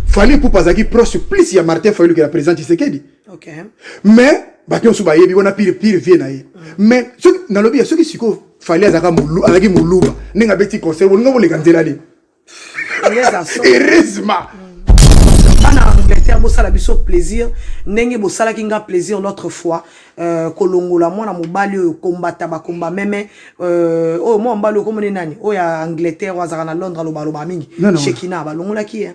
Fally Ipupa azalaki proche plus ya Martin Fayulu ke ya président Tshisekedi. Okay. Mais bato nyonso bayebi wana pire pire vie na ye. Mais soki nalobi ya soki sikoyo Fally azalaka mulu azalaki muluba ndenge abeti concert bolingo boleka nzela nini? Heureusement. Bana Angleterre bosala biso plaisir ndenge bosalaki nga plaisir l'autre fois. euh, kolongola mwana mobali oyo kombata bakomba meme euh, oyo mwana mobali oyo komone nani oyo ya angleterre oyo azalaka na londres alobaloba mingi shekina balongolaki ye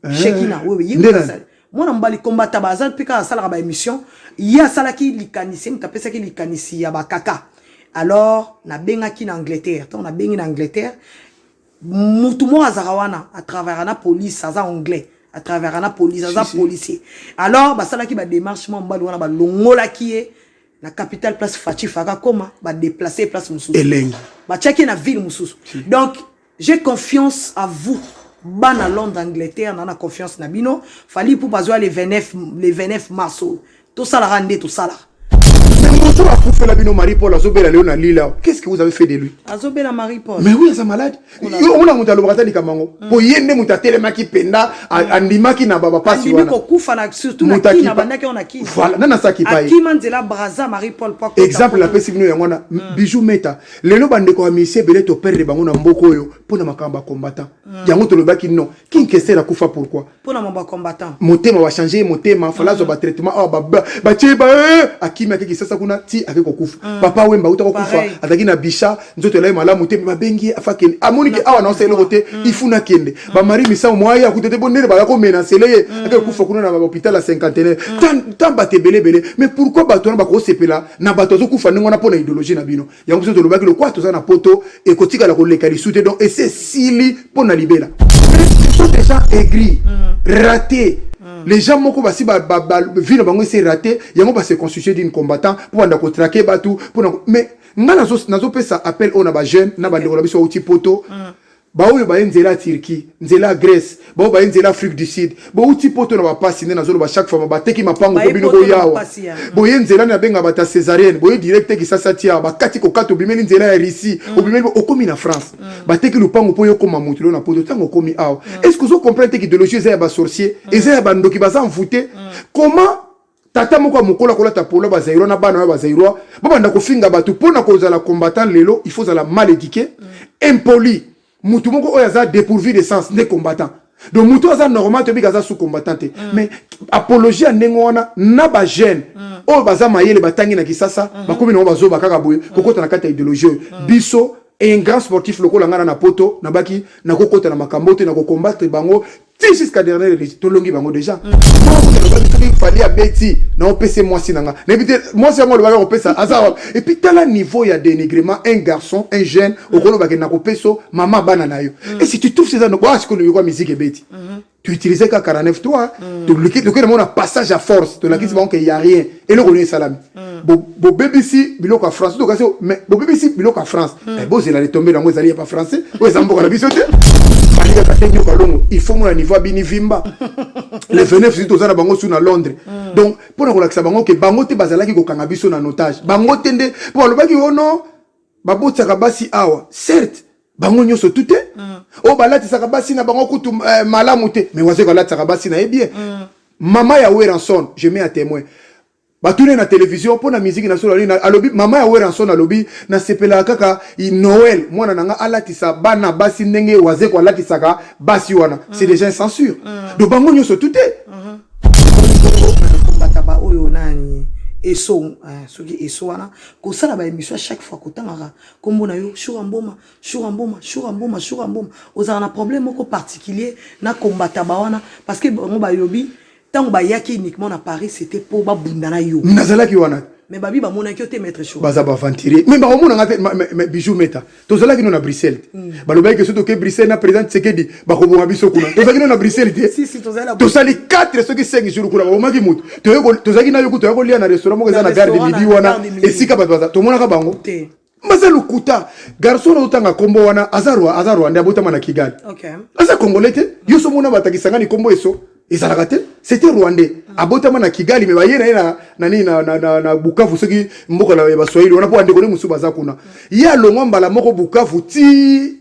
eh, shekina oyo ye mwana mobali kombata baza mpe kaka asalaka baémission ye asalaki likanisi ye moto apesaki likanisi ya bakaka alors nabengaki na angleterre ntango nabengi na angleterre mutu moko azaka wana a travaillera na police aza anglais a travaillera na police aza si, si. policier alors basalaki ba démarche mwa mobali wana balongolaki ye na capital place fachi faka koma ba déplacer place mosusu elengi batiaki ye na ville mosusu si. donc j'ai confiance à vous bana londres angleterre na na confiance na bino fali ipupa azwa le 29 le 29 mars oyo tosalaka nde tosalaka moto akufela bino marie paul azobela leo na lila qu'est ce que vous avez fait de lui azobela marie paul mais oui aza malade yo omona moto alobaka ata likambo yango mpo hmm. ye nde moto atelemaki mpenza hmm. andimaki na bapasi wanakokufa na surtout na kina bandaki yango na kina voilà nani asaki paakima nzela braza marie paul exemple napesi bino yango wana hmm. bijou meta lelo bandeko ya misie ebele toperdre bango na mboka oyo mpo na makambo ya combattant yango tolobaki non kinkester akufa pourquoi pona ma ba combattant motema ba changer ye motema fala azwa ba traitement awa ba batie ba akimi ake kisasa kuna ti ake kokufa mm. papa wemba uta kokufa azalaki na bisha nzoto elai malamu te me babengi ye afa kende amoni ke awa naosa eloko te mm. ifuna kende mm. ba mari misango mwa ye akuta te bo ndele baya komenasele ye ake kokufa kuna na bahopital ya cinquantenaire tan bato ebele ebele mais pourquoi bato wana bakosepela na bato azokufa ndenge wana mpo na idéologie na bino yango biso tolobaki lokola toza na poto ekotikala koleka lisu te donc esi esili mpo na libela sont déjà aigris mm. raté mm. les gens moko basi vie na bango esi raté yango base constitue d'une combattant mpo banda kotrake bato mpona mais ngai nazopesa appel oyo na bajeune na bandeko na biso auti poto mm. baoyo baye nzela ya Turquie, nzela ya Grèce, baoyo baye nzela Afrique du Sud, bouti poto na bapasi nde nazoloba chaque fois bateki mapango mpo bino boya awa boye nzela na benga bata cesarienne boye direct te kisasi ati awa bakati kokata obimeli nzela ya Russie mm. obimeli okomi na France mm. bateki lupango mpo yo koma moto lelo na poto ntango okomi awa mm. est-ce que ozo comprendre te idéologie eza ya ba sorcier eza ya bandoki baza envoute comment tata moko ya mokolo akolata polo ba zaïrois na bana ba zaïrois ba banda ko finga batu pona ko zala combattant lelo il faut zala mal éduqué mm. impoli mutu moko oyo aza dépourvu de sens ne combattant donc mutu aza normal to bika aza sous combattant te mm. mais apologie ya ndenge wana na ba jeune mm. oyo baza mayele ba tangi na kisasa mm -hmm. ba komi na ba zo ba kaka boye mm. ko kota na kata idéologie mm. biso un grand sportif lokola ngana na poto nabaki nakokota na makambo te nakocombattre bango ti jusqu'à dernière minute tolongi bango déjà alobaki mm. soki fali abeti naopese mwasi na nga nayebi te mwasi yango alobaki akopesa aza wapi epuis tala niveau ya dénigrement un garçon un jeune mm. okolobake nakopeso mama bana na yo mm. et si tu trouves eza boasikoloyokwa musique ebeti mm-hmm. tu utilise kaka 49 toi tolukeli bango na passage à force tolakisi bango ke ya rien eloko nini esalami Mm. Bo, bobebisi biloko ya france tokasi mais bobebisi biloko ya france mm. eh, bozela litombe yango ezali ya ba français oyo eza mboka na biso te balingaka te nyoka longo il faut mona niveau abini vimba le 29 juillet toza na bango su na londres mm. donc mpo na kolakisa bango ke bango te bazalaki kokanga biso na notage bango te nde mpo balobaki o oh non babotisaka basi awa certes bango nyonso tu te mm. oyo oh, balatisaka basi na bango kutu eh, malamu te mais wazeko alatisaka basi na ye bien mm. mama ya weranson je mets à témoin Batune na television mpo na miziki na solo nini alobi. Mama ya Werrason alobi nasepelaka kaka Noel mwana na nga alatisa bana basi ndenge Wazekwa alatisaka basi wana mm. c'est déjà censure mm. do bango nyonso tout te bata ba oyo nani eso eh, soki eso wana kosala ba émission chaque fois kotangaka kombo na yo shura mboma shura mboma shura mboma shura mboma ozalaka na problème moko particulier na kombata ba wana parce que bango bayobi Tango ba yaki uniquement na Paris c'était po ba bunda na yo. Nazalaki wana. Mais babi ba monaki yo te maître show. Baza ba aventurier. Mais ba komona nga te mais bijou meta. Tozalaki no na Bruxelles. Hmm. Ba lobaki que soto ke Bruxelles na président Tsekedi ba ko boma biso kuna. Tozalaki no na Bruxelles te. Si si tozali la. Tozali 4 soki 5 jours kuna ba bomaki mutu. Toyeko tozalaki na yo kutu yako lia na restaurant moko eza na gare de midi wana. Esika bato baza. Tomonaka bango. Te. maza lokuta garçon na otanga kombo wana aza roi aza rwandais abotama na kigali okay. aza congolais te yo so mona batakisa ngani kombo eso ezalaka te c'était rwandais mm. abotama na kigali me baye na ye na nani na, na, na, na bukavu soki mboka ya baswahili wana mpo bandeko nde mosusu baza kuna mm. ye alongwa mbala moko bukavu ti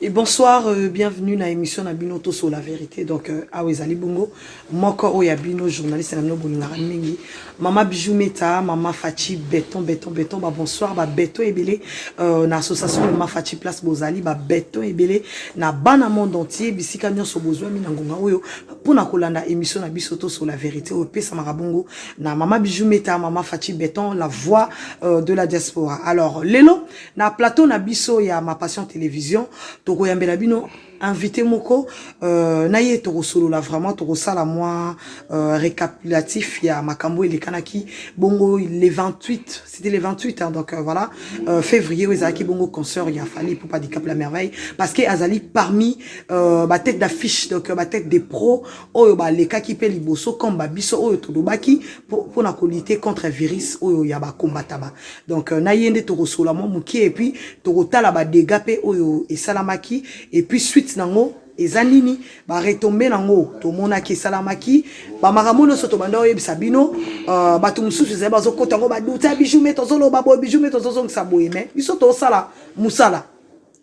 Et bonsoir, euh, bienvenue na émission na Bino Toso la vérité. Donc euh, awa ezali bongo moko oyo ya bino journaliste na bino bolingaka mingi. Mama Bijou Meta, Mama Fachi Beton Beton Beton ba bonsoir ba beton ebele euh, na association Mama Fachi Place Bozali ba beton ebele na bana monde entier bisika nyonso bozwa mina ngonga oyo pona kolanda émission na biso Toso la vérité oyo pesa marabongo na Mama Bijou Meta, Mama Fachi Beton la voix euh, de la diaspora. Alors lelo Na plateau na biso ya Ma Passion Television, tokoyambela bino invité moko euh, na ye tokosolola vraiment tokosala mwa euh, récapitulatif ya makambo elekanaki bongo le 28 c'était le 28 hein, donc euh, voilà euh, février oyo ezalaki bongo concert ya Fally Ipupa Dicap la merveille parce que azali parmi euh, ba tête d'affiche donc euh, ba tête des pros oyo balekaki mpe liboso comme ba biso oyo tolobaki mpo na kolite contre virus oyo ya bakombataba donc euh, na ye nde tokosola mwa mokie epuis tokotala badega mpe oyo esalamaki epuis suite nango eza nini baretombe nango tomonaki esalamaki bamakambo nyonso tobanda oyebisa bino uh, bato mosusu ezali bazokota yango baduta bijou me tozoloba boye bijou me tozozongisa boye me biso tosala mosala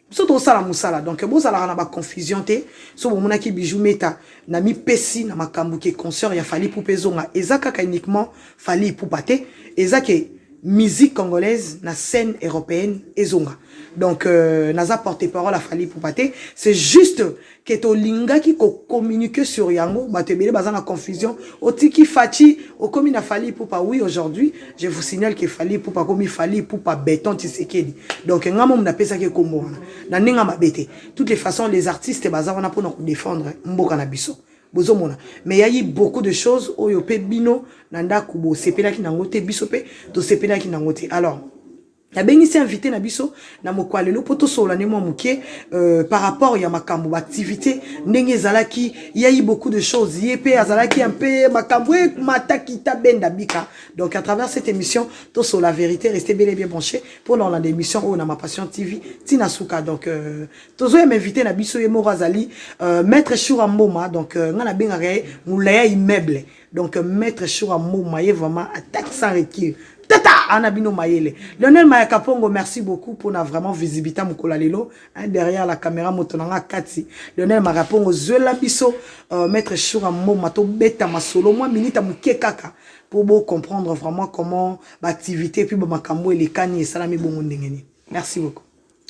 biso tozosala mosala donc bozalaka na baconfusion te so bomonaki bijou meta na mipesi na makambo ke concert ya fali pupa ezonga eza kaka uniquement fali ipupa te eza ke musique congolaise na scène européenne ezonga donc euh, naza porte parole ya fali ipupa te c'est juste que tolingaki ko communiquer sur yango bato ebele baza na confusion otiki faci okomi na fali ipupa oui aujourd'hui je vous signale que fali ipupa akomi fali ipupa beton tisekedi donc nga momu napesaki ekombo wana na ndenge mabe te toutes les façons les artistes baza wana mpona kodefendre mboka na biso bozomona mais yayi beaucoup de choses oyo mpe bino na ndako bosepelaki nango te biso mpe tosepelaki nango te alors nabengisi invité na biso na moko ya lelo mpo tosolola nde mwa moke euh, par rapport ya makambo baactivité ndenge ezalaki yai beaucoup de choses ye mpe azalaki un peu makambo emata kita benda bika donc à travers cette émission tosolola vérité reste bel et bien branché mpo na olanda émission oyo na ma passion tv ntina suka donc euh, tozoyema invité na biso ye moko azali euh, maître shura mboma donc euh, ngai nabengaka ye molaya immeuble donc maître shura moma ye vraiment attaque sans recul tata ana bino mayele lionel mayaka pongo merci beaucoup mpona vraiment visibilité mokola lelo hein, derrière la caméra moto na nga kati lionel mayaka pongo zwela biso euh, maître shura moma tobeta masolo mwa minita moke kaka mpo bocomprendre vraiment comment baactivité puis bamakambo elekani esalami bongo ndenge nini merci beaucoup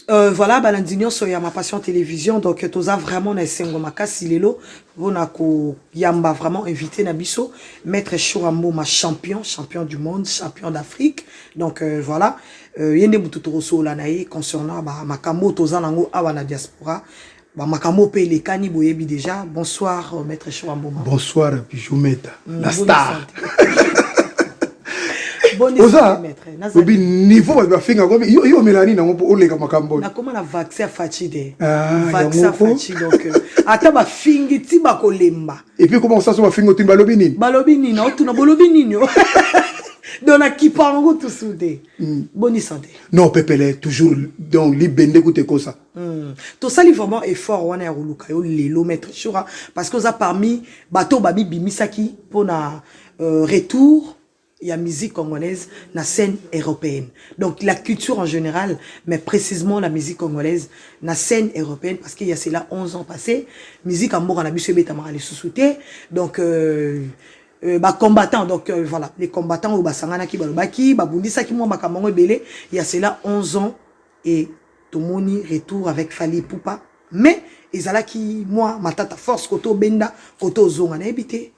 Euh, voilà balandi nyonso ya ma passion télévision donc toza vraiment na esengo makasi lelo mpona koyamba vraiment invité na biso maître shura mboma champion champion du monde champion d'afrique donc euh, voilà euh, ye nde motu tokosolola na ye concernant makambo oyo toza nango awa na diaspora Ba makambo pe elekani boyebi deja. Bonsoir euh, maître Choa Mboma. Bonsoir Bijou Meta. Mm, la star. oza obi niveau bato bafinga ko yo yo melani nango mpo oleka makambo nakoma na vaccin ya faci te ah, vaccin faci donc euh, ata bafingi ti bakolemba epuis koma kosaso bafingi otuni balobi nini balobi nini otuna bolobi nini donc nakipa yango tusu te hmm. boni sante non pepele toujours donc libende kuta ekosa Hmm. tosali vraiment effort wana ya koluka yo lelo maître shura parce que oza parmi bato babibimisaki mpona euh, retour ya musique congolaise na scène européenne donc la culture en général mais précisément la musique congolaise na scène européenne parce qu'il y a cela 11 ans passé musique ya mboka na biso ebetamaka lisusu te donc euh, Euh, bacombattant donc euh, voilà les combattants oyo basanganaki balobaki babundisaki mwa makambo yango ebele ya cela 11 ans et tomoni retour avec Fally Ipupa mais ezalaki mua matata force kote obenda kote ozonga nayebi te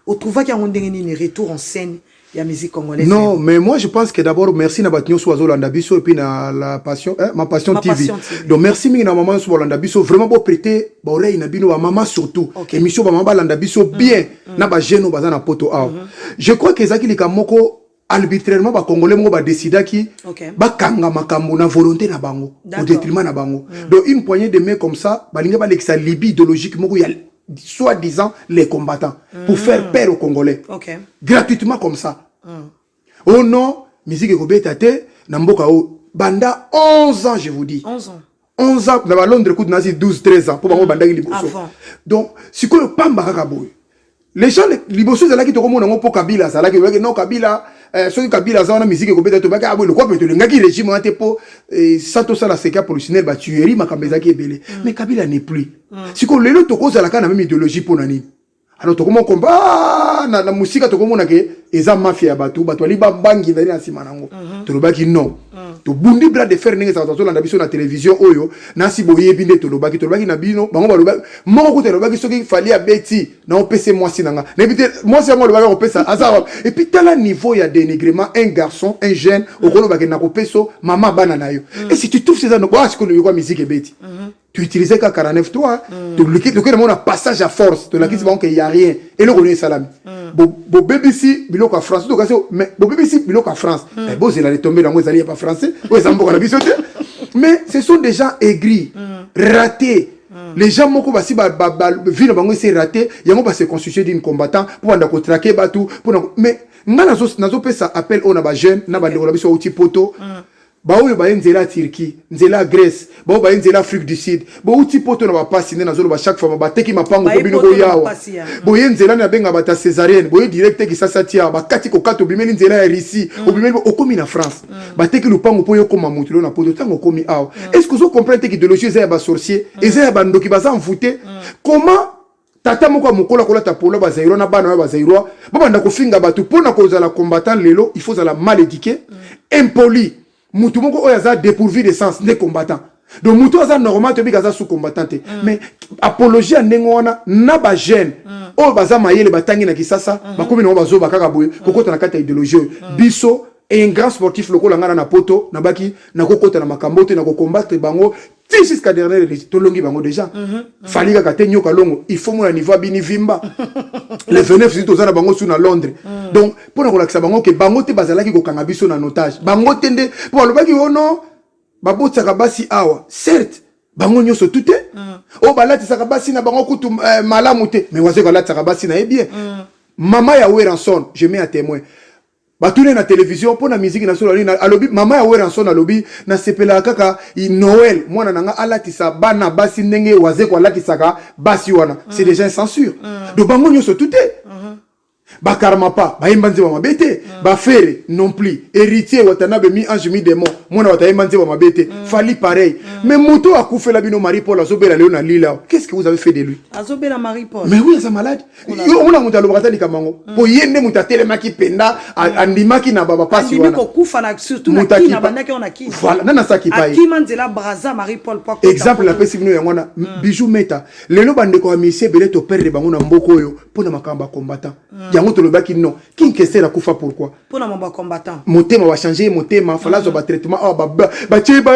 o trouvaki yango ndenge nini retour en scène ya musique congolaise non mais moi je pense que d'abord merci na bato nyonso bazolanda biso et puis na la passion eh, ma passion ma TV. passion TV donc merci mingi na maman nyonso balanda biso vraiment bo prêter ba oreille na bino ba maman surtout okay. émission ba maman balanda biso mm, bien mm -hmm. na ba jeune baza na poto awa mm -hmm. je crois que ezaki likambo moko arbitrairement ba congolais moko ba décidaki okay. bakanga makambo na volonté na bango au détriment na bango mm. donc une poignée de main comme ça balingi balekisa libye idéologique moko ya soit disant les combattants mm. pour faire peur aux congolais okay. gratuitement comme ça mm. oh non musique ekobeta te na mboka oyo banda 11 ans je vous dis 11 ans 11 ans na ba Londres kutu nazi 12 13 ans po bango mm. bandaki liboso donc sikoyo pamba kaka boye les gens liboso ezalaki tokomona yango mpo kabila azalaki olobaki non kabila eh, soki kabila aza wana miziki ekobeta tobaki aboye ah, lokwa mpe tolingaki régime wana te mpo eh, sa tosala seka professionnel batuerie makambo ezalaki ebele mm. mais kabila n'est plus mm. sikoyo lelo tokozalaka na meme idéologie mpo na nini alors tokomona komba ah, na, na mosika tokomona ke eza mafia ya bato bato bali babangi ezali na nsima na yango uh mhm. -huh. tolobaki non uh mhm. -huh. tobundi bras de fer ndenge ezalaka tozolanda biso na televizio oyo nasi boyebi nde tolobaki tolobaki na bino bango balobaki moko kuta alobaki soki fali abeti naopese mwasi na nga nayebi te mwasi yango alobaki akopesa aza epuis tala niveau ya dénigrement un garçon un jeune mhm. okolobake nakopeso mama bana na yo et si tu trouves eza noko asikoyo yoka miziki ebeti tu utiliser ka 493 mm. to liki to kena mona passage à force to lakisi mm. bango qu'il y a rien et le rôle salami mm. bo bo BBC biloko France to kasi mais bo BBC biloko France mm. eh, bo zela les tomber lango ezali pas français o ezambo la bisote mais ce sont des gens aigris mm. ratés Mm. les gens moko basi ba, ba, ba, vie na bango esi erate yango base constitue d'une combattant mpo banda kotrake bato mpona mais ngai nazopesa appel oyo na bajeune na bandeko na biso auti poto mm. baoyo baye nzela ya Turquie, nzela ya Grèce, baoyo baye nzela Afrique du Sud, bouti poto na bapasi nde nazoloba chaque fois bateki mapango mpo bino boya awa boye nzela na benga bata cesarienne boye direct te kisasi ati awa bakati kokata obimeli nzela ya Russie mm. obimeli okomi na France mm. bateki lupango mpo yo koma moto lelo na poto ntango okomi awa mm. est-ce que ozo comprendre te idéologie eza ya ba sorcier eza ya bandoki baza envoute comment tata moko ya mokolo akolata polo bazairois na bana oyo bazairois babanda kofinga bato mpo na kozala combattant lelo il faut ozala mal éduqué mm. impoli motu moko oyo aza dépourvu de sens nde combattant donc motu aza normal toyebika aza sous combattant te mm. mais apologie ya ndenge wana na bajeune mm. oyo baza mayele batangi na kisasa mm -hmm. bakomi nango bazoba kaka boye mm -hmm. kokota na kati ya ideologie oyo mm. biso un grand sportif lokola ngana na poto nabaki nakokota na makambo te nakokombatre bango ti jusqu'à dernière release tolongi bango déjà mm -hmm. fali kaka te nyoka longo il faut mona niveau abini vimba le 29 zili toza na bango su na londres mm. donc mpo na kolakisa bango ke bango te bazalaki kokanga biso na notage bango te nde mpo balobaki o oh non babotisaka basi awa certes bango nyonso tu te mm. oyo oh, balatisaka basi na bango kutu eh, malamu te mais wazeko alatisaka basi na ye bien mm. mama ya weranson je mets à témoin Batune na television mpo na miziki na solo nini alobi. Mama ya Werrason alobi nasepelaka kaka Noel mwana na nga alatisa bana basi ndenge Wazekwa alatisaka basi wana mm. c'est déjà censure mm. do bango nyonso tout te mm -hmm. bakarmapa bayemba nzemba mabe te mm. bafere non plus héritier watanabe mi ange mi démon mwana wata ayemba nzemba mabe te mm. fali pareil mm. mais moto akufela bino marie paul azobela lelo na lila qu'est ce que vous avez fait de lui azobela marie paul mais oui aza malade yo omona moto alobaka ata likambo yango mm. mpo ye nde moto atelemaki mpenza mm. andimaki na babapasi wananani asakipa ye exemple napesi bino yango wana mm. bijou meta lelo bandeko ya misie ebele toperdre bango na mboka oyo mpo na makambo ya combattant yango tolobaki non kinkester akufa pourquoi pona ma ba combattant motema ba changer ye motema fala azwa ba traitement awa ba batie ba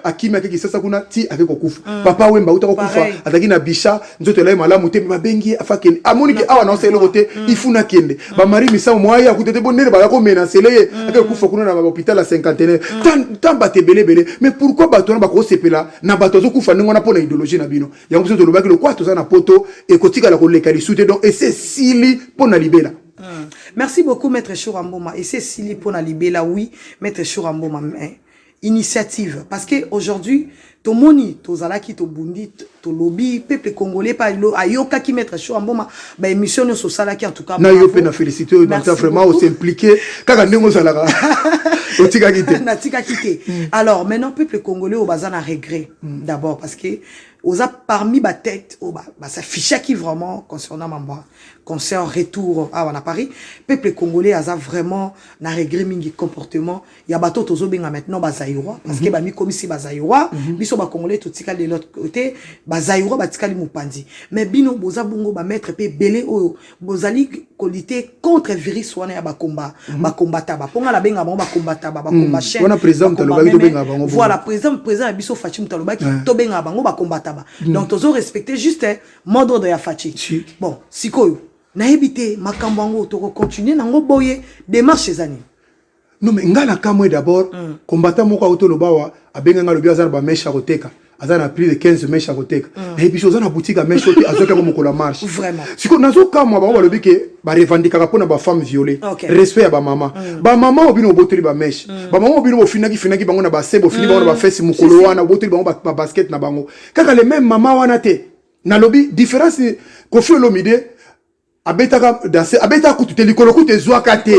akimi ake kisasa kuna ti ake kokufa mm. papa wemba uta kokufa azalaki na bisha nzoto elai malamu te babengi ye afa kende amoni ke awa naosa eloko te mm. ifuna kende mm. bamari misango mwa ye akuta te bo ndene baya komenasele ye ake kokufa kuna na bahopital ya cinquantenaire tan bato ebele ebele mais pourquoi bato wana bakosepela na bato azokufa ndenge wana mpo na idéologie na bino yango biso tolobaki lokola toza na poto ekotikala koleka lisu te donc ese esili mpo na libela Hmm. Merci beaucoup maître Shura Mboma. Et c'est Sili pour la libella, oui, maître Shura Mboma. Mais initiative parce que aujourd'hui tomoni tozalaki tobundi tolobi peuple congolais pa ayokaki maître show amboma ba émission nyonso osalaki en tout cas na yo mpe na félicité oyo nata vraiment osimplike kaka ndenge ozalaka otikaki te natikaki te mm. alors maintenant peuple congolais oyo baza na regret mm. d'abord parce que oza parmi batete oyo basafichaki vraiment concernant mamboa concert retour awa na Paris peuple congolais aza vraiment na regret mingi comportement ya bato tozo benga maintenant ba zaïrois parce que mhm. ba mi komisi ba zaïrois mhm. biso ba congolais to tika de l'autre côté ba zaïrois ba tika li mupanzi mais bino boza bongo ba maître pe belé oyo bozali ko lutter contre virus wana ya ba combat mhm. ba combatta ba ponga la benga ba combatta ba combat chef wana président to lobaki to benga bango voilà président président biso Fatshi Moutalobaki to benga bango ba combatta ba donc tozo respecter juste mode ordre ya faci si. bon sikoyo nayebi te makambo yango tokocontinue nango boye démarche eza nini non mais ngai nakamwe d'abord mm. combattant moko auti oloba awa abenga ngai alobi aza na bameshe ya koteka aza na plus de 15 meshe ya koteka mm. naye biso oza na boutique ya meshe ote azwaki yango mokolo ya marche sikoyo nazokamwa bango balobi ke barevandikaka mpo na bafemme viole okay. respect ya bamama mm. bamama oyo bino bobotoli bameshe mm. bamama oyo bino bofinaki finaki bango na base bofini mm. bango na mm. bafesi mokolo wana bobotoli bango babasket na bango kaka le meme mama wana te nalobi différence kofi olomide abetaka danse abetaka kutu te likolo kutu ezwaka te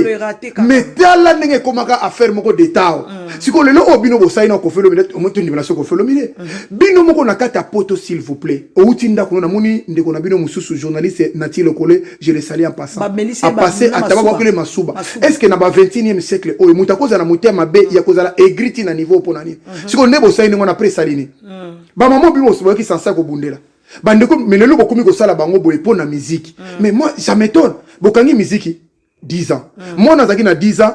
me tala ndenge ekomaka affaire moko detao mm. sikoyo lelo oyo bino bosali na kofi olomide omotondimela so kofi olomide mm. bino moko na kati ya poto s'il vous plaît outi ndako no namoni ndeko na bino mosusu journaliste nati lokole je le sali en passant apasse atababwakele masuba est ce que na ba 21e siècle oyo moto akozala na motema mabe mm. ya kozala aigriti na niveau mpo na nini mm-hmm. sikoyo nde bosali ndenge wana apres esali nini mm. bamama bino bosoboyaki sansa kobundela bandeko me lelo bokomi kosala bango boye mpo na miziki mm. mais moi ça m'étonne bokangi miziki 10 ans mm. mwana azalaki na 10 ans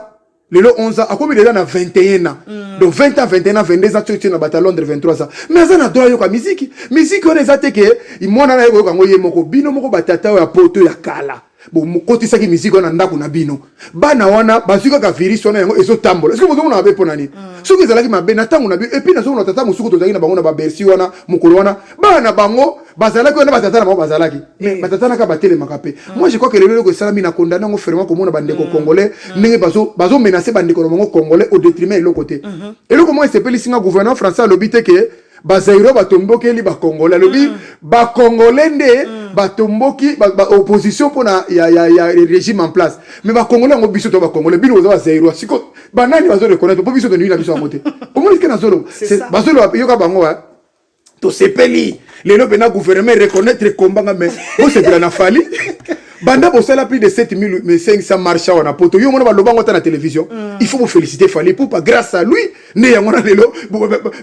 lelo 11 ans akomi deja na 21 ans mm. donc 20 ans 21 ans 22 ans tiotie na bato ya londres 23 ans mais aza na droit ayoka miziki miziki wana eza te ke mwana na ye koyoka yango ye moko bino moko batata oyo ya poto ya kala bokotisaki miziki wana ndako na bino bana wana bazwi kaka virus wana yango ezotambola soki bozomona mabe mpo na nini mm. soki ezalaki mabe na ntango na bino epuis nazomona tata mosuku tozalaki na bango na babersi wana mokolo wana bana na bango bazalaki wana batata na bango bazalaki mais eh. batata naka batelemaka mpe mm. moi je crois que lelo eloko esalami na kondane yango fermement komona bandeko mm. congolais ndenge bazomenase bandeko na bango congolais au detriment eloko te mm-hmm. eloko moko esepelisi nga gouvernement français alobi te ke ba Zaïrois ba tombokeli ba Congolais alobi mm. ba Congolais nde mm. ba tomboki ba, ba opposition pona ya ya ya régime en place mais ba Congolais ngo biso to ba Congolais bino oza ba Zaïrois siko ba nani bazo reconnaître po biso to nini na biso yango te omoni ke na zolo bazo lo yoka bango wa to sepeli lelo pena gouvernement reconnaître combat nga mais bo sepela na fali banda bosala plus de 7500 marche awa na poto yo mona baloba yango ata na télévision mm. il faut boféliciter fali pupa grâce à lui nde yango na lelo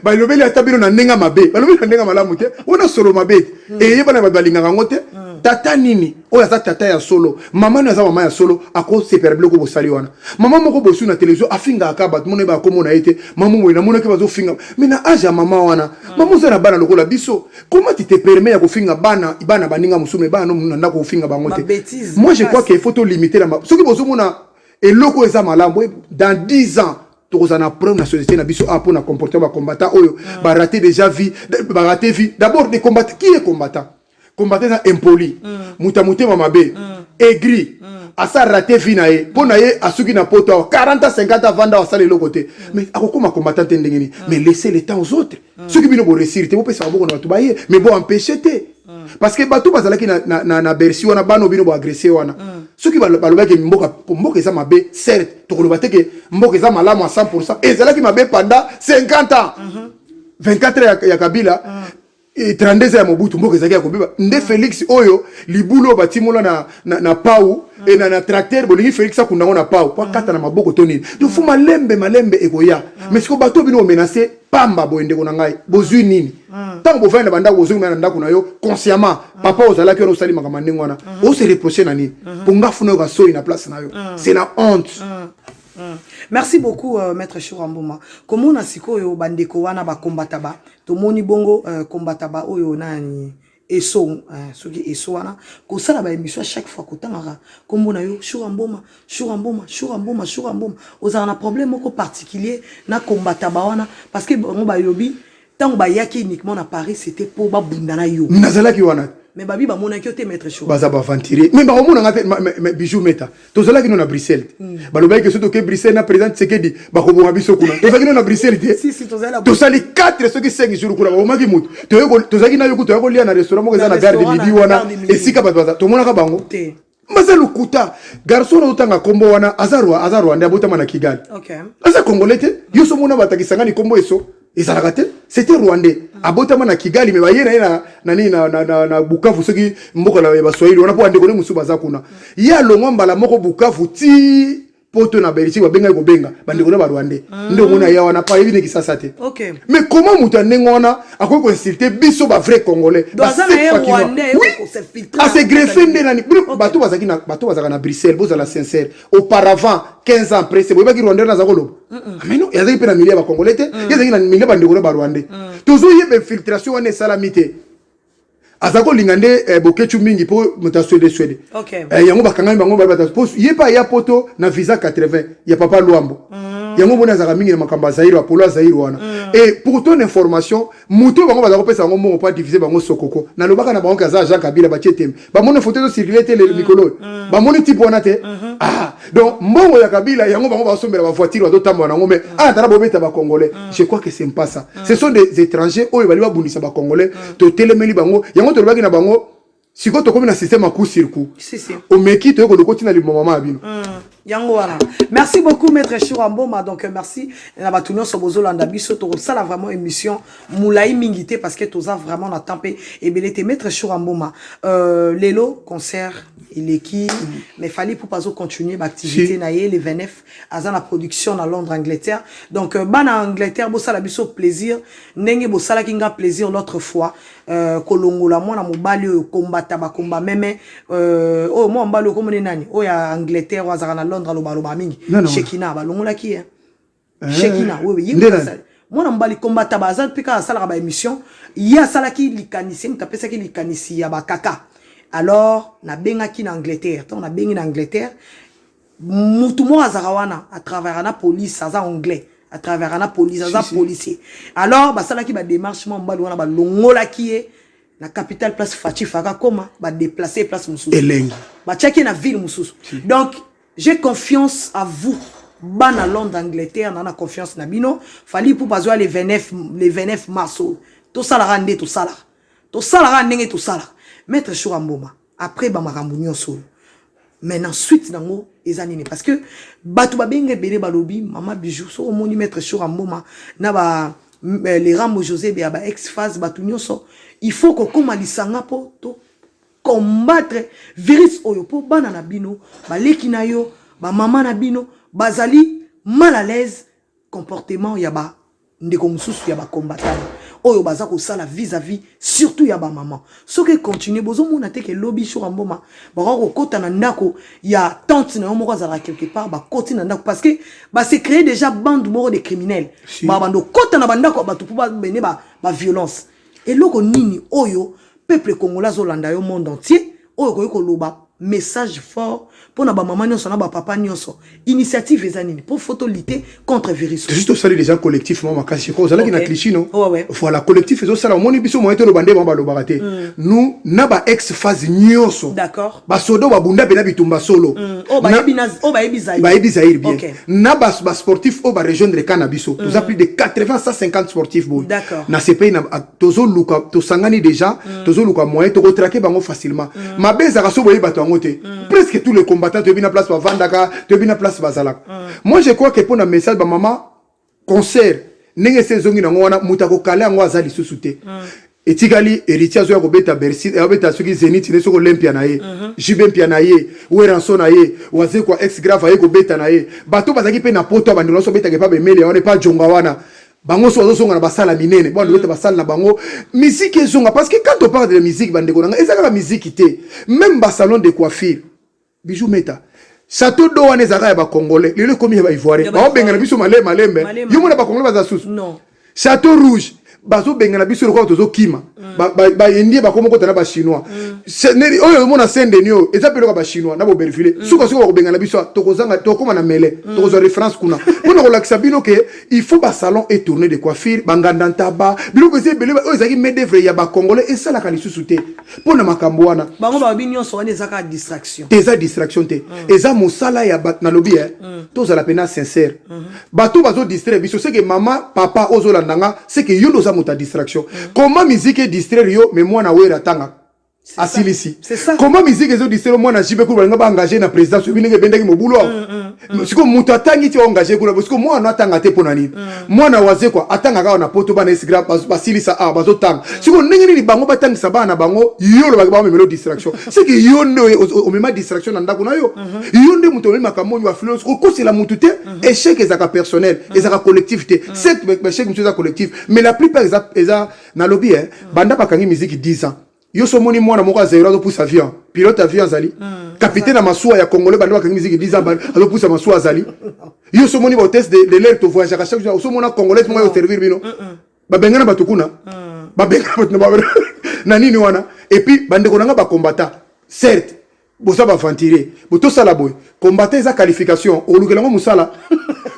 balobeli ata bino na ndenge mabe balobeli na ndenge malamu te wana solo mabe hmm. eyebana bato balingaka yango te hmm. tata nini oyo aza tata ya solo mama nini aza mama ya solo akosepela biloko bosali wana mama moko bosui na televizio afingaka kaka bato mona eyebaka komona ye te mama moye namonaki bazofinga mai na age ya mama wana hmm. mama oza na bana lokola biso koma ti te perme ya kofinga bana bana baninga mosusu mai bana na ndako kofinga bango te moi je crois ke faut tolimite na soki bozomona eloko eza malamu dans 10 ans tokozala na problème na société na biso a ah, mpo na comportement ba combattant oyo mm. ba raté déjà vie ba raté vie d'abord des combattants qui est combattant combattant eza impoli mm. moto ya motema mabe mm. aigri asa raté vie na ye mpo na ye asuki na poto awa 40 50 avanda asala eloko te mais akokoma combattant te ndenge nini mais laisser le temps aux autres mm. soki bino boresir te bopesa maboko na bato baye mais bo empêche te mm. parce que bato bazalaki na, na, na, na bersi wana bana bino boagresse wana mm. soki balobaki mboka mboka eza mabe certes tokoloba te ke mboka eza malamu a 100 ezalaki mabe pendant 50 ans mm -hmm. 24 ya, ya kabila mm. 32 ya mobutu mboka ezalaki ya kobeba nde mm. félix oyo libulu oyo batimola na, na, na pau mm. e na, na tracteur bolingi félix akunda yango na pau po akata mm. na maboko to nini donc fo malembe malembe ekoya mais siko bato bino omenace pamba boye ndeko na ngai bozwi nini hmm. ntango bovandi na bandako bozongi na ndako na yo consciemment hmm. papa ozalaki wana osali makambo ndenge wana hmm. ose reproche na nini mpo nga funa yo kasoi na place na yo c'est la honte merci beaucoup euh, maître shura mbuma komona sikoyo bandeko wana bakombataba tomoni bongo euh, kombataba oyo nani Esso eh, soki Esso wana kosala ba émission chaque fois kotangaka kombo na yo Shura Mboma Shura Mboma Shura Mboma Shura Mboma ozala na problème moko particulier na combattre ba wana parce que bango balobi tango bayaki uniquement na Paris c'était po babunda na yo nazalaki wana mais babi bamonaki yo te maître Shura baza ba aventurier mais bakomona nga te bijou meta tozalaki no na bruxelles mm. balobaki ke soki toke bruxelles na président tsekedi bakoboma biso kuna tozalaki no na bruxelles te si, si, tosali 4 soki 5 jour kuna babomaki motu tozalaki nayo kutu toya kolia na restaurant moko eza na gare de midi wana esika bato baza tomonaka bango te baza lokuta garçon oyo otanga nkombo wana aza rwandais abotama na kigali okay. aza congolais te yo so mona batakisangani nkombo eso ezalaka te c'était rwandais abotama na kigali me baye na ye na, na, nini, na, na, na, na bukavu soki mboka na ya baswahili wana mpo bandeko ne mosusu baza kuna ye alongwa mbala moko bukavu ti poto na belgique babengaki kobenga bandeko na barwandais ah. nde omoni aya wana pa yebi ne kisasa te mais comment moto ya ndenge wana akoki koinsulte biso bavrai congolais asegreffe nde nani bato bazalaka na bruxelles bozala sincere auparavant 15 ans presse boyebaki rwandais wana aza koloba ameno ah, azalaki mpe na milieu ya bacongolais te mm. ye azalaki na milieu ya bandeko na barwandais mm. tozoyeba infiltration wana esalami te aza kolinga nde eh, bokechu mingi mpo moto ya swede swede okay. eh, yango bakangami bango mpo ye mpe aya poto na visa 80 ya papa lwambo mm. yango moni azalaka mingi na makambo ya zaire apolo ya zaire wana mm. e pour ton information moto bango baza kopesa bango mbongo mpo adivise bango sokoko nalobaka na bango ke aza jean kabila batie tembe bamoni foto ezo circule te lelo mm, mikolo oyo mm. bamoni type wana te mm-hmm. ah, donc mbongo ya kabila yango bango basombela bavoitire bazotambola nango mais mm. atala ah, bobeta bacongolais je crois que c'est pas ça ce sont des étrangers oyo bali babundisa bacongolais totelemeli bango yango tolobaki na bango sikoyo tokomi na système ya coup sur coup omeki toyekoli okoti na limomama ya bino yango wana merci beaucoup maître shura mboma donc merci na bato nyonso bozolanda biso tokosala vraiment émission mulayi mingi te parce que toza vraiment na temps pe ebele te maître Shura Mboma euh, lelo concert eleki mais fallait pour pas continuer ba activité na ye le 29 aza na production na Londres Angleterre donc euh, bana Angleterre bosala biso plaisir ndenge bosalaki nga plaisir l'autre fois euh, kolongola mwana mobali oyo kombata bakomba meme euh, oyo mwana mobali oyo komona nani oyo ya Angleterre oyo azalaka na Londres aloba aloba mingi Shekina balongolaki ye eh? eh, shekina eh, wewe ye asali mwana mobali combataba aza mpe kaka asalaka ba émission ye asalaki likanisi moto apesaki likanisi ya bakaka alors nabengaki na angleterre ntango nabengi na angleterre mutu moko azalaka wana atravera na police aza anglais atravera na police aza policier alors basalaki bademarche mwa mobali wana balongolaki ye na capitale place fachi faka koma badeplace place mosusu elengi batiaki ye na ville mosusu donc J'ai confiance à vous bana Londres Angleterre na na confiance na bino Fally Ipupa azwa le 29 le 29 mars oyo tosalaka nde tosalaka tosalaka ndenge tosalaka maître Shura Mboma après ba makambo nyonso oyo mais na suite nango eza nini parce que bato babenga ebele balobi mama bijou soki omoni maître Shura Mboma na ba euh, le Rambo José ya ba ex phase bato nyonso il faut kokoma lisanga mpo to combattre virus oyo mpo bana na bino baleki na yo bamama na bino bazali mal à l'aise comportement ya ba ndeko mosusu ya bacombatana oyo baza kosala vis-à-vis surtout ya bamama soki econtinue bozomona te ke lobi shora mboma bakoki kokota na ndako ya tante na yo moko azalaka quelque part bakoti na ndako parce que base cree déjà bande moko de criminel babanda okota na bandako ya bato mpo babende baviolence ba Eloko nini oyo peuple congolais azolanda yo monde entier oyo okoki koloba message fort pona ba maman nionso na ba papa nionso initiative eza nini po photo lite contre virus juste osali déjà collectif mama makasi ko ozalaki okay. na cliché non oh, ouais. voilà collectif ezo sala omoni biso moyen toloba nde mama balobaka te mm. nous na ba ex phase nionso d'accord basoda oyo babunda mpe na bitumba solo mm, oyo bayebi zaire bien okay. na basportif oyo barejoindre ka na biso mm. toza plus de 80 150 sportif boye na sepei tozoluka tosangani déjà mm. tozoluka moyen tokotrake bango facilement mm. mabe ezalaka so boyebi bato yango te mm. presque tous les combattants toyebi na place bavandaka toyebi na place bazalaka mm. moi je crois que mpo na message bamama concert ndenge ese ezongi nango wana moto akokala yango aza lisusu te mm. etikali héritier azoya kobeta bercy eh, abeta soki zenit ne soki olempia na ye mhm. jube mpia na ye weranso na ye wazekwa ex grave aye kobeta na ye bato bazalaki mpe na poto ya bandeko nyonso obetaka epa bemeli ya wana epa jonga wana bango so bazozonga na basala minene bwana obeta mhm. basala na bango miziki ezonga parce que quand on parle de musique bandeko na ngai eza kaka miziki te même basalon de coiffure Bijou Meta. Sato do wana ezalaka ya ba congolais. Lelo ekomi ya ba ivoiriens. Ba bengana biso male malembe. Yo mona ba congolais baza susu. Non. Sato rouge bazo bengana biso lokola tozo kima. Mm. Ba ba, ba indien ba komo kota na ba chinois. Mm. Neri oyo mona sende nio eza pe lokola ba chinois na boberville. Mm. Suka suka ko bengana biso tokozanga tokoma na mele. Mm. Tokozwa reference kuna. Pona ko lakisa bino ke il faut ba salon et tourner de coiffure, banganda ntaba, biloko eza ebele oyo ezaki main d'œuvre ya ba congolais esalaka lisusu te. mpo na makambo wana bango balobi nyonso wana eza kaka distraction te eza distraction te mm. eza mosala ya bato nalobi e mm. tozala mpena sincere mm -hmm. bato bazodistraire biso seke mama papa ozolanda nga seke yo nde oza moto ya distraction mm. koma miziki edistraire yo me mwana wera atangaka asilisi koma miziki ezodistraire mwana jibe kulu balinga baengage na présidence oyebi ndenge ebendaki mobulu awa mm, mm. Mm. siko moto atangi ti engage kuna bosiko mwana atanga te mpo na nini mm. mwana wazekwa atangaka awa na poto bana esigra basilisa awa bazotanga mm. siko ndenge nini bango batangisa bana na bango yo olobaki bango memelo distraction seke yo nde omema distraction na ndako na yo mm-hmm. yo nde moto omemi makambo oyo bafilo okosela motu te mm-hmm. échec ezalaka personnel mm-hmm. ezalaka collectif te certes échec mosusu eza collectif mais la plupart eza nalobi e banda bakangi miziki 10 ans yo so moni mwana moko azayiro azopusa avion pilote avion azali hmm. capitaine ya masuwa ya congolais bande bakangi miziki 10 ans azopusa masuwa azali yo so moni baotese de l'air tovoyageaka chaque jour osomona congolais moko aoservir bino babengana bato kuna hmm. babengana bato na nini wana epuis bandeko na ngai bakombata certes boza ba aventurier botosala boye combattant eza qualification olukela ngo mosala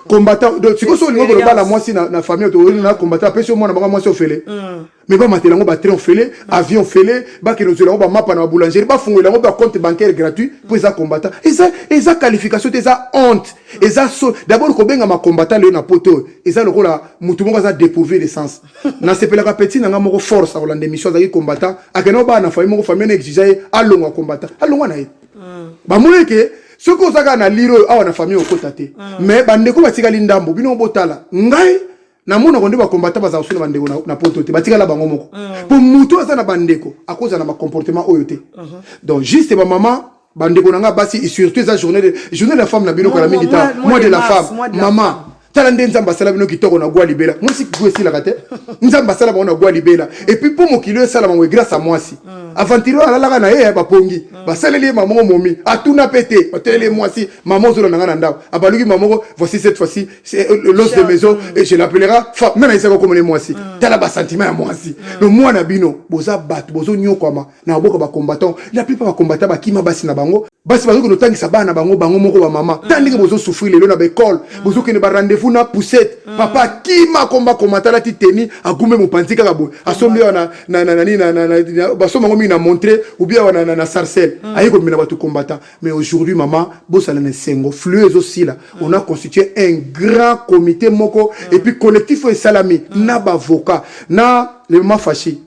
combattant donc sikoyo so olingi kolobala mwasi na, na famille oyo na combattant apesi yo mwana bango mwasi ofele mm. mais bamatela yango batrain ofele mm. avion ofele bakende ozwela yango bamapa na baboulangerie bafungolela yango bacompte bancaire gratuit mpo eza combattant eza, eza qualification te eza honte eza so d'abord kobengama combattant leo na poto oyo eza lokola motu moko aza dépourvu de sens nasepelaka petit na nga moko force akolanda émission azalaki combattant akenda obaa na famille moko famille na exige ye alongwa combattant alongwa na ye mm. bamoni ke soki oza kaka na lire oyo awa na famille okota te mm. mais bandeko batikali ndambo bino botala ngai namonako nde bakombata bazala kosu na bandeko na poto te batikala bango moko mpo mm. moto aza na bandeko akozala na bacomportement oyo te mm-hmm. donc juste bamama bandeko na nga basi surtout eza journée de journée de la femme na bino kala mingi ta mois de la femme maman tala nde nzambe asala bino kitoko na gwa libela mwasi kigo esilaka te nzambe asala bango na gwa libela epuis mpo mokili oyo esalama boye grâce ya mwasi mm. aventurier oyo alalaka na ye ya bapongi mm. basaleli ye mama moko momi atuna mpe te bateleli ye mwasi mama ozola na ngai na ndako abaluki mama moko voici cette fois-ci euh, euh, l'os de maison mm. et je l'appellera fa nga na yisaka okomona ye mwasi tala basentiment ya mwasi no mwana bino boza bato bozonyokwama na maboka ba combattant la plupart ba combattant bakima basi na bango basi bazokende otangisa bana bango bango moko bamama ta ndenge bozosouffrir lelo na baekole bozokende ba rendez-vous na poussette papa akima komba komata alati teni agumbe mopanzi kaka boye asombi awa na- na- na- nani na- na- na- basomba yango mingi na montre obi awa na- na na sarcelle aye komemela bato combattant mais aujourd'hui mama bosala na esengo flue ezosila on a constitué un grand comité moko et puis collectif oyo esalami na bavocat na le mama fashi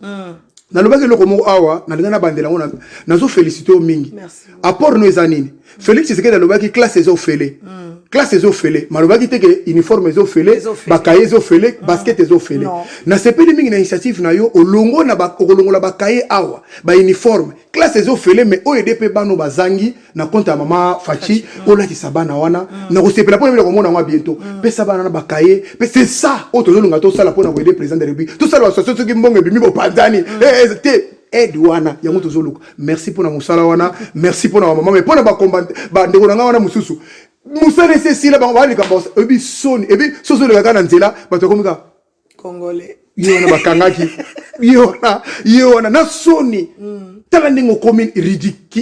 nalobaki eloko moko awa nalinga nabandela yango nazo félicité yo mingi apport no eza nini félix tshisekedi alobaki classe eza ofele mm. classe eza ofele malobaki te ke uniforme eza ofele bakaye eza ofele mm. basket eza ofele nasepeli mingi na initiative na yo olongo na okolongola bakaye awa bauniforme classe eza ofele mais oyo ede mpe bano bazangi na compte ya mama fachi mm. olakisa bana wana mm. nakosepela mpo na bino komona yango biento mm. pesa bana na bakaye mpe c'est ça oyo tozolonga tosala mpo na koyede président de république tosala basoso soki mbongo ebimi bopanzani eh, eh, te aide wana yango tozoluka merci mpo na mosala wana merci mpo na bamama me mpo na bandeko na ngai wana mosusu mosala esi esila bango baa likambo oyebi soni ebi sosi oleka kaka na nzela bato yakomika congolais ye wana bakangaki ye wana ye wana na soni mm. tala ndenge okomi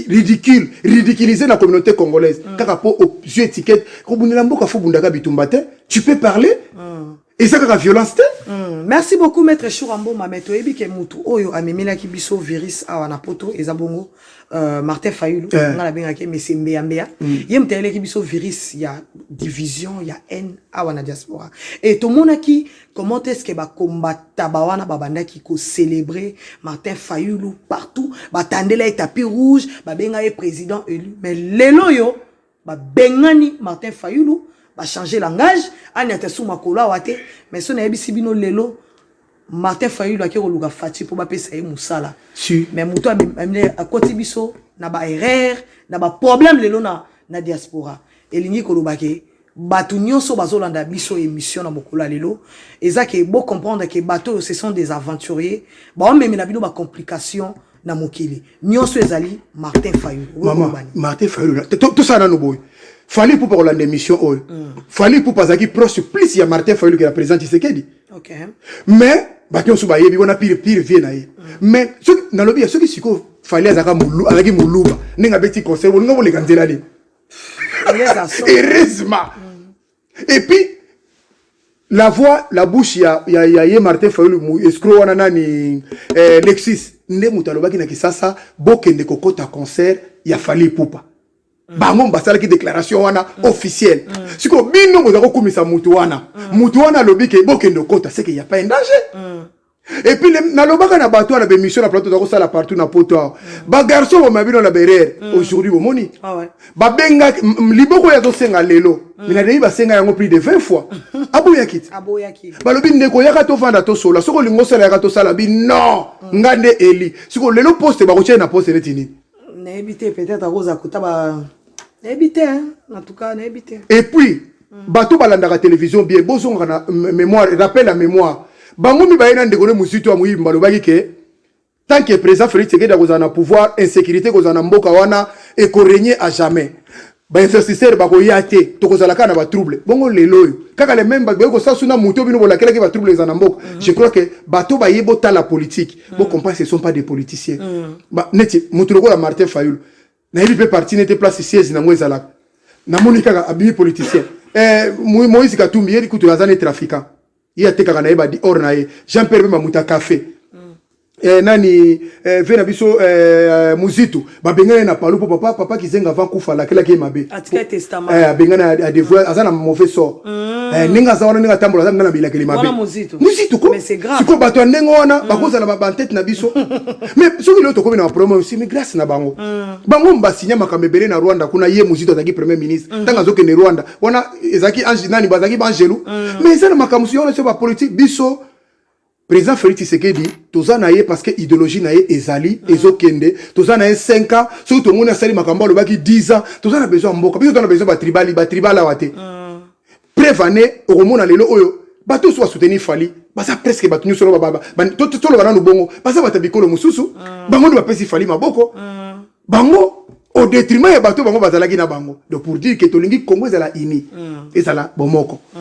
ridicule ridiculise na communauté congolaise mm. kaka mpo ozwi étiquette kobundela mboka fo bundaka bitumba te tu peux parler mm. eza kaka violence te merci beaucoup maître choura mboma me toyebi ke motu oyo amemelaki biso virus awa na poto eza bongo euh, martin fayulu eh. nga nabengaki mese mbeyambeya mm. ye moto ayeleki biso virus ya division ya haine awa na diaspora e tomonaki comment est ce que bakombata ba wana babandaki kocelebre martin fayulu partout batandela ye tapis rouge babenga ye président élu mais lelo oyo Ba bengani Martin Fayulu, ba changer langage, ani atasu makolo awa te, mais so nayebisi bino lelo Martin Fayulu ake koluka Fatshi po bapesa ye musala. Si. Mais mutu amemle akoti biso na ba erreur, na ba problème lelo na na diaspora. Elingi koloba ke bato nyonso bazolanda biso émission na mokolo ya lelo eza ke bo comprendre ke bato oyo ce sont des aventuriers baomemela bino ba complications na mokili nyonso ezali martin fayulu mama martin fayulu tosala nano boye fali ipupa kolanda émission oyo mm. fali ipupa azalaki proche plus ya martin fayulu ke ya président tshisekedi mais bato nyonso bayebi wana pire pire vie na ye mm. mais soki nalobi ya soki sikoyo fali azalaki moluba ndenge abeti conseil bolinga boleka nzela nini heureusement mm. et puis la voix la bouche ya ya, ya ye Martin Fayulu escroc wana nani eh, Lexis nde moto alobaki na Kisasa bokende kokota concert ya Fally Ipupa mm. bango basalaki déclaration wana mm. officielle mm. sikoyo bino boza kokumisa moto wana mm. moto wana alobi ke bokende kokota seke ya pas un danger mm. Et puis nalobaka na bato wana bemission na plateau tozakosala partout na poto awa mm. bagarçon boma bino na berere mm. aujourd'hui bomoni ah babengaki liboko oyo azosenga lelo mm. minadeyi basenga yango plus de 20 fois aboyaki te balobi ndeko yaka tovanda tosola soki olingi osala yaka tosala bi non nga nde eli sikoyo lelo poste bakotia ye na poste neti nini nayebi te peut-être akozala kota ba nayebi te en tout cas nayebi te et puis mm. bato balandaka télévision bien bozongaka na mémoire rappel ya mémoire bango mibaye na ndeko ne mozito ya moyibi balobaki ke tant que président félix tshisekedi akozala na pouvoir insécurité ekozala na mboka wana ekoregne à jamais bainvestisseur bakoya te tokozala kaka na batrouble bongo lelo oyo kaka le meme bakoki kosala suna moto bino bolakelaki batrouble eza na mboka mm. je crois que bato baye botala politique mm. bocomprendre ce sont pas des politiciens mm. neti moto lokola martin fayulu nayebi mpe parti nete place siège nango ezalaka namoni kaka abimi politicien eh, moïse katumbi yeli kutu aza ne trafiquant ye atekaka na ye badi or na ye jean pierre mpe mamuta café mm. eh, nani eh, ve na biso eh, muzitu babengana ye na palu mpo papa papa kizenga avant kufa alakelaki ye mabe eh, abengana adevoir aza na mauvais sort Mm. Eh, ndenge aza wana ndenge atambola aza na bilakeli mabe muzito ko sikoyo bato ya ndenge wana mm. bakozala bantete na biso mais soki lelo tokomi na baproblème oyo simi grâce na bango mm. bango basinya makambo ebele na rwanda kuna ye muzito azalaki premier ministre ntango azokende rwanda wana ezalaki nani bazalaki baangelu mais eza na makambo mosusu wana so bapolitike biso President Felix Tshisekedi toza na ye parce que ideologie na ye ezali mm. ezokende toza na ye 5 ans soki tomoni asali makambo alobaki 10 ans toza na besoin ya mboka biso toza na besoin batribali batribal awa te mm. preuve ane okomona lelo oyo bato nyonso basoutenir fali baza presque bato nyonso toloba nanu bongo baza bato ya bikolo mosusu mm. bango nde bapesi fali maboko bango au détriment ya bato bango bazalaki na bango donc pour dire que tolingi congo ezala uni mm. ezala bomoko mm.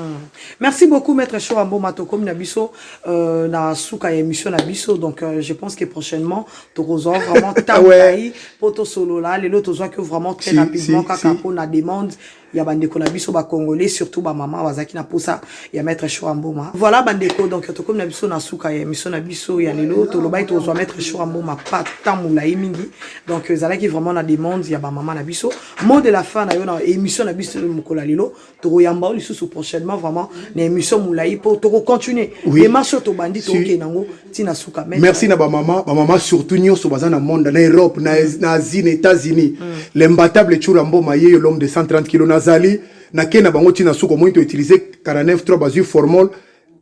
merci beaucoup maître show amboma tokomi na biso euh, na suka ya émission na biso donc euh, je pense que prochainement tokozwa vraiment ntango ngai mpo tosolola lelo tozwaki vraiment très rapidement kaka mpo na demande ya bandeko na biso ba congolais surtout ba mama bazalaki na posa ya maître show amboma voilà bandeko donc tokomi na biso na suka ya émission na biso ya lelo tolobaki tozwa maître show amboma pas temps molai mingi donc ezalaki vraiment na demande ya ba mama na biso mot de la fin na yo na émission na biso mokolo ya lelo tokoyamba yo lisusu prochainement vraiment na émission molai mpo tokocontinue démarche oyo tobandi tokende yango tina suka mais merci na ba maman ba maman surtout nyoso baza na monde na Europe na mm. na Asie na États-Unis mm. l'imbattable Chura Mboma yeyo l'homme de 130 kg nazali na kena bango tina suka omoni to utiliser 49 3 bazui formol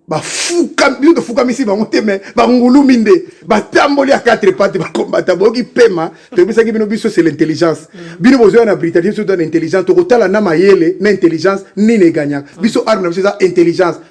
bafuka bino tofukamisi bango te me bangulumi nde batamboli ya 4 pate bakombata boyoki pema toyebisaki bino biso se l'intelligence mm. bino bozoya na britannie biso toza na intelligence tokotala na mayele na intelligence nini eganyaka biso arme na biso eza intelligence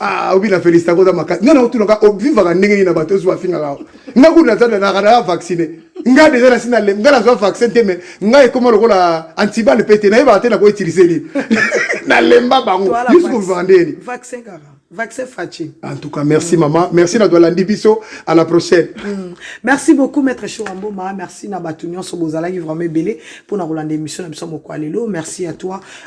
ah obi na felicita koza makasi nga naotunaka ovivaka ndenge nini na bato ozuwa afingaka nga kutu naza nanaka naya vaccine nga deja nasi na lem nga nazwa vaccin te me nga ekoma lokola antibale mpe te nayebaka te nako utilize nini nalemba bango yusu kovivaka ndeni vaccin kaka vaccin faci en tout cas merci mm. mama merci na toalandi biso à la prochaine mm. merci beaucoup maître shoramboma merci na bato nyonso bozalaki vraiment ebele mpo na kolanda émission na biso moko ya lelo merci à toi